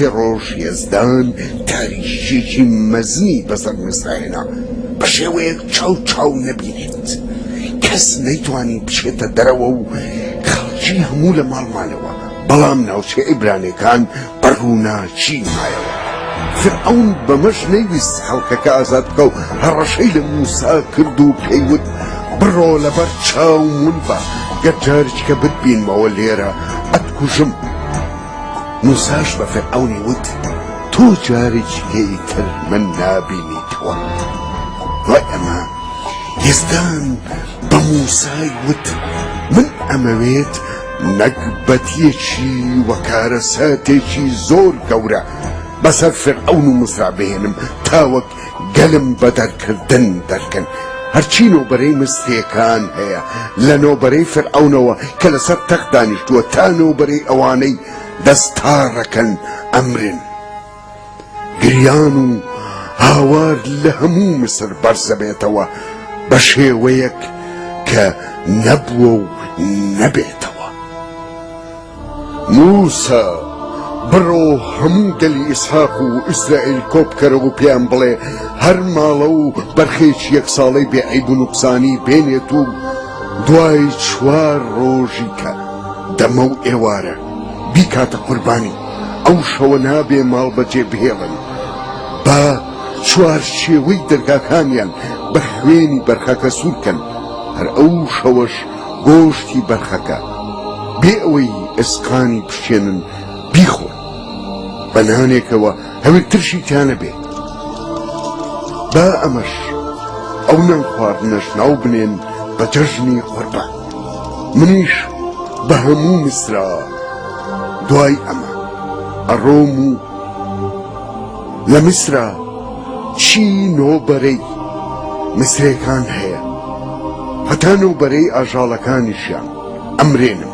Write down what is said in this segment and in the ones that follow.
سێ ڕۆژ یەزدان تاریکییەکی مەزنی بەسەر میسرا هێنا، بە شێوەیەک چاو چاو نەبینێت. کەس نەیتوانی بچێتە دەرەوە و خەڵکی هەموو لە ماڵ مانەوە، بەڵام ناوچە عیبرانییەکان بە ڕووناکی مایەوە. فیرعەون بەمەش نەیویست خەڵکەکە ئازاد بکا و هەڕەشەی لە مووسا کرد و پێی وت، بڕۆ لەبەر چاوم ون بە، گەر جارێکیکە بتبینمەوە لێرە، ئەتکوژم. موساش بە فیرعەونی وت، تۆ جارێکی لێی تر من نابینیتەوە. دوای ئەمە یەزدان بە موسای وت، من ئەمەوێت نەگبەتییەکی و کارەساتێکی زۆر گەورە بەسەر فیرعەون و موسا بهێنم تاوەک گەلم بە دەرکردن دەرکەن هەرچی نۆبەرەی مستێکان هەیە لە نۆبەرەی فرعونەوە کە لەسەر تەخت دانیشتووە تا نۆبەرەی ئەوانەی دەستاڕەکەن ئەمرن گریان و هاوار لە هەموو مسر بەرزەبێتەوە بە شێوەیەک کە نەبووە و نەبێتەوە. مووسا، بڕۆ هەموو گەلی ئیسحاق و ئیسرائیل کۆ بکەرەوە و پێیان بڵێ، هەر ماڵە و بەرخێکی یەک ساڵەی بێ عەیب و نوقسانی بێنێت و دوای چوار ڕۆژی کە دەمە و ئێوارە بیکاتە قوربانی، ئەو شەوە نابێ ماڵ بەجێ بهێڵن، با چوارچێوەی دەرگاکانیان بە خوێنی بەرخەکە سوور بکەن، هەر ئەو شەوەش گۆشتی بەرخەکە بێ ئەوەی ئێسقانی بشکێنن بیخۆن بە نانێکەوە هەوێ ترشی تیانەبێ با ئەمەش ئەو نان خواردنەش ناو بنێن بە جەژنی قوربان منیش بە هەموو میسرا دوای ئەمە ئەڕۆم و لە میسرا چی نۆ بەرەی مسرێکان هەیە هەتا نۆ بەرەی ئاژاڵەکانیشیان ئەمرێنم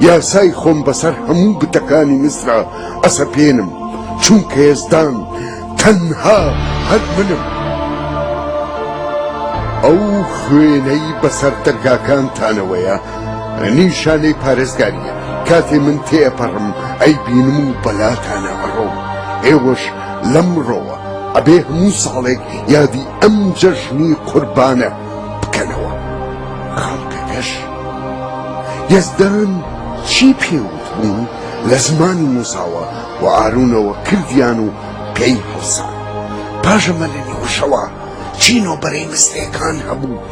یاسای خۆم بەسەر هەموو بتەکانی میسرا ئەسەپێنم چونکە یەزدان تەنها هەر منم ئەو خوێنەی بەسەر دەرگاکانتانەوەیە نیشانەی پارێزگاریە کاتێ من تێپەڕم ئەی بینم و بەلاتانە ئەڕۆم ئێوەش لەمڕۆوە ئەبێ هەموو ساڵێک یادی ئەم جەژنی قوربانە بکەنەوە. خەڵکەکەش یەزدان چی پێ وتبوو لە زمانی موساوە و ئارونەوە کردیان و پێی هەڵسان. پاش ئەمە لە نیوەشەوا چین و بەرەی مستەیەکان هەبوو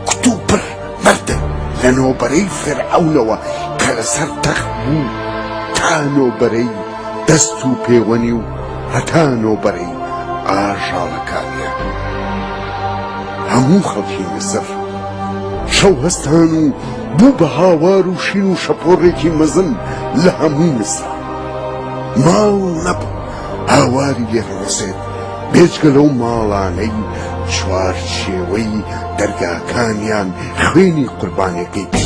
کوتوپڕ مردن لە نۆبەرەی فیرعەونەوە کە لەسەر تەخت بوو تا نۆبەرەی دەست و پێوەنی و هەتا نۆبەرەی ئاژاڵەکانیان هەموو خەڵکی میسر شەو هەستان و بوو بە هاوار و شین و شەپۆڕێکی مەزن لە هەموو میسر ماڵ نەبوو هاواری لێ بڕۆسێت بێجگە لەو ماڵانەی چوارچێوەی دەرگاکانیان خوێنی قوربانێکەی بی.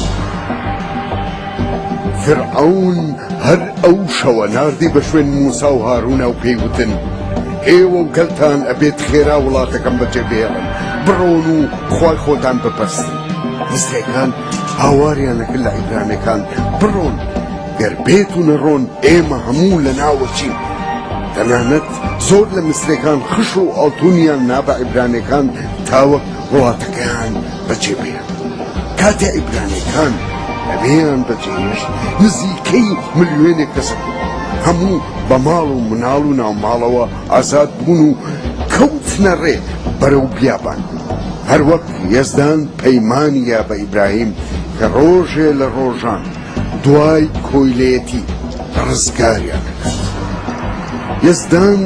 فیرعەون هەر ئەو شەوە ناردی بە شوێن موسا و هارونا و پێی وتن ئێوە و گەلتان ئەبێت خێرا وڵاتەکەم بەجێ بێڵن بڕۆن و خوای خۆتان بپەرستن مستەکان هاواریانەکە لە عیبرانەکان بڕۆن گەر بێت و نەڕۆن ئێمە هەموو لە ناوەچین تەنانەت زۆر لە مسرەکان خش و ئاڵتونیان نابە عیبرانەکان تاوەک وڵاتەکەیان بەجێ بهێڵن. کاتێ عیبرانیەکان ئەوێیان بەجێ هێشت نزیکەی ملیۆنێک کەس هەموو بە ماڵ و مناڵ و ناوماڵەوە ئازاد بوون و کەوتنە ڕێ بەرەو بیابان. هەروەک یەزدان پەیمانی یا بە ئیبراهیم کە ڕۆژێ لە ڕۆژان دوای کۆیلەیەتی ڕزگاریان دەکات. یەزدان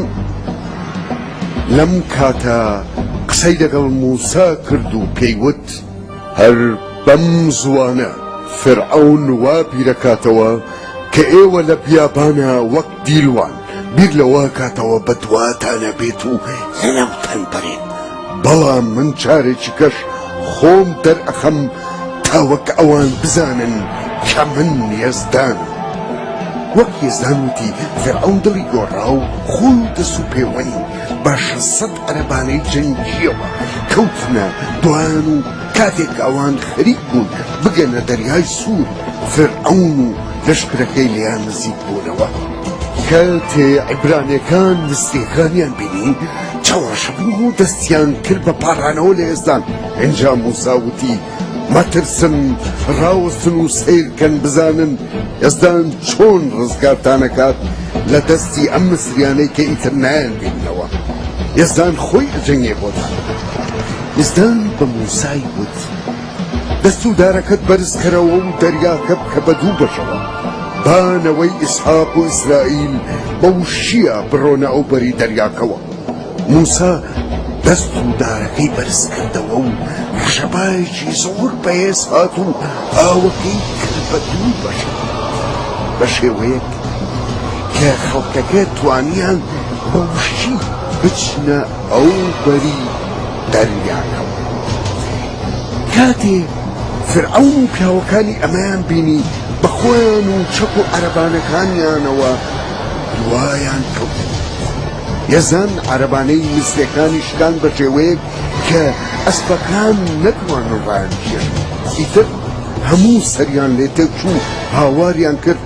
لەم کاتە قسەی لەگەڵ مووسا کرد و پێی وت، هەر بەم زووانە فیرعەون وا بیرەکاتەوە کە ئێوە لە بیابانا وەک دیلوان، بیر لەوە ئەکاتەوە بەدواتانە بێت و لەناوتان بەرێت، بەڵام من چارێکیکەش خۆم دەرئەخەم تا وەک ئەوان بزانن کە من یەزدانم وەک یەزدان وتی فیرعەون دڵی گۆڕا و خۆی و دەست و پێوەنی بە شەسەد عەرەبانەی جەنگیەوە کەوتنە دوایان و کاتێک ئەوان خەریک بوون بگەنە دەریای سوور فیرعەون و لەشکرەکەی لێیان نزیک بوونەوە کاتێ عیبرانیەکان مصریەکانیان بینی چەواشە بوون و دەستیان کرد بە پاڕانەوە لە ئێزدان ئینجا موسا وتی مەترسن ڕاوەستن و سەیرکەن بزانن ئێزدان چۆن ڕزگارتانەکات لە دەستی ئەم مسریانەی کە ئیتر نایان بینەوە ئێزدان خۆی ئەجەنگێ بۆتان ئێزدان بە موسای وتی دەست و دارەکەت بەرزکەرەوە و دەریاکە بکە بە دوو بەشەوە، با نەوەی ئیسحاق و ئیسرائیل بە وشییە بڕۆنە ئەو بەری دەریاکەوە. موسا دەست و دارەکەی بەرزکردەوە و ڕەشەبایەکی زۆر بەهێز هات و ئاوەکەی کرد بە دوو بەشەوە، بە شێوەیەک کە خەڵکەکە توانییان بە وشی بچنە بەو بەری دەریایەوە ڕۆیشتین. کاتێ فیرعەون و پیاوەکانی ئەمەیان بینی، بە خۆیان و چەک و عەرەبانەکانیانەوە دوایان کەوتن. یەزان عەرەبانەی میسریەکانی شکاند بە شێوەیەک کە ئەسپەکان نەتوانن ڕایانبگێڕن. ئیتر هەموو سەریان لێ تێکچوو هاواریان کرد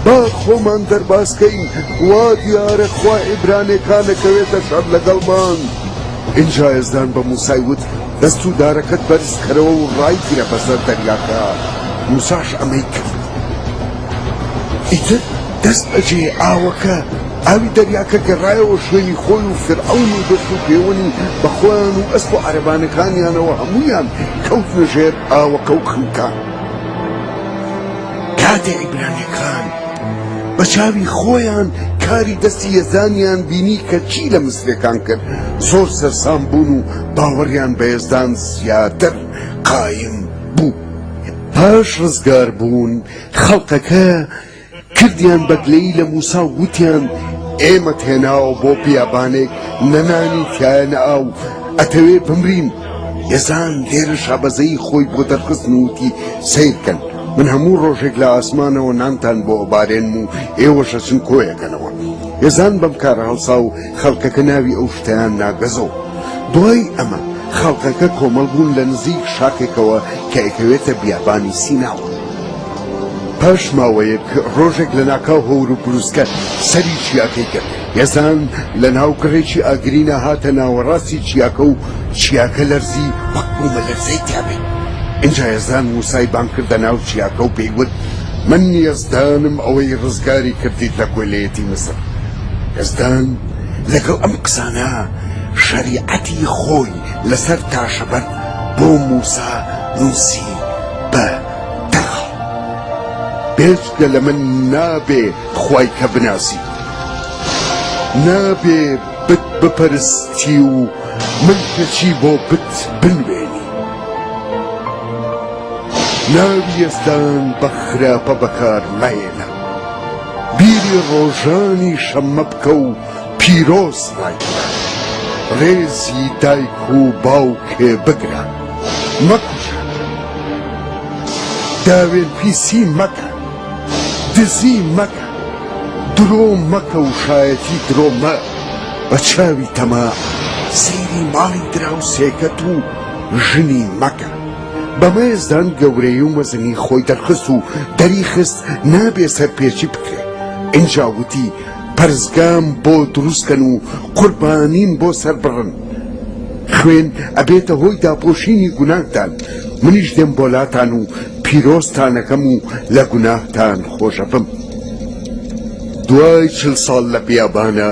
با خۆمان دەرباز کەین وا دیارە خوا ئیبرانێکانەکەوێتە شەڕ لەگەڵمان ئینجا یەزدان بە موسای وت دەست و دارەکەت بەرزکەرەوە و ڕایگرە بەسەر دەریاکە موساش ئەمەی کرد ئیتر دەست بەجێ ئاوەکە ئاوی دەریاکە گەڕایەوە شوێنی خۆی و فرعون و دەست و پێوەنی بە خۆیان و ئەسپ و عەرەبانەکانیانەوە هەمویان کەوتنە ژێر ئاوەکە و خنکان کاتێ عیبرانیەکان بە چاوی خۆیان کاری دەستی یەزدانیان بینی کە چی لە مسرەکان کرد زۆر سەرسام بوون و باوەڕیان بە یەزدان زیاتر قایم بوو پاش ڕزگار بوون خەڵقەکە کردیان بەگلەی لە موسا وتیان ئێمە تێناوە بۆ بیابانێک نەنانی تایە نەئاو ئەتەوێ بمرین یەزان لێرە شابەزەیی خۆی بۆ دەرخستن و وتی، سەیرکەن، من هەموو ڕۆژێک لە ئاسمانەوە نانتان بۆ ئەبارێنم و ئێوەش ئەچن کۆیەکەنەوە. یەزان بەم کارە هەڵسا و خەڵکەکە ناوی ئەو شتەیان نا گەزۆ. دوای ئەمە خەڵکەکە کۆمەڵ بوون لە نزیک شاخێکەوە کە ئەکەوێتە بیابانی سیناوە. پاش ماوەیەک ڕۆژێک لەناکاو هەور و بروسکە سەری چیاکەی گرت. یەزان لە ناو گڕێکی ئاگرینا هاتە ناوەڕاستی چیاکە و چیاکە لەرزی وەک بوومەلەرزەی تیابێ. ئینجا یەزان مووسای بانگ کردە ناو چیاکە و پێی وت، من یەزدانم ئەوەی ڕزگاری کردیت لە کۆیلەیەتی میسر. یەزدان لەگەڵ ئەم قسانە شەریعەتی خۆی لەسەر تاشەبەرد بۆ مووسا نووسی بە دەغڵ، بێجگە لە من نابێ خوای کە بناسی نابێ بت بپەرستی و من کەچی بۆ بت بنوێنی ناوی یەزدان بە خراپە بەکار مەیەنە بیری ڕۆژانی شەممە بکە و پیرۆز نایکە ڕێزی دایک و باوکێ بگرە مەکوژە داوێن پیسی مەکە دزی مەکە درۆ مەکە و شایەتی درۆ مە بە چاوی تەما سەیری ماڵی دراوسێکەت و ژنی مەکە بەمەێزدان گەورەی و مەزنی خۆی دەرخست و دەری خست نابێ سەرپێچی بکرێ ئینجاوتی پەرزگام بۆ دروستکەن و قوربانیم بۆ سەر بڕن خوێن ئەبێتە هۆی داپۆشینی گوناهتان منیش دێم بۆ لاتان و پیرۆزتانەکەم و لە گوناهتان خۆشەبم دوای چل ساڵ لە بیابانە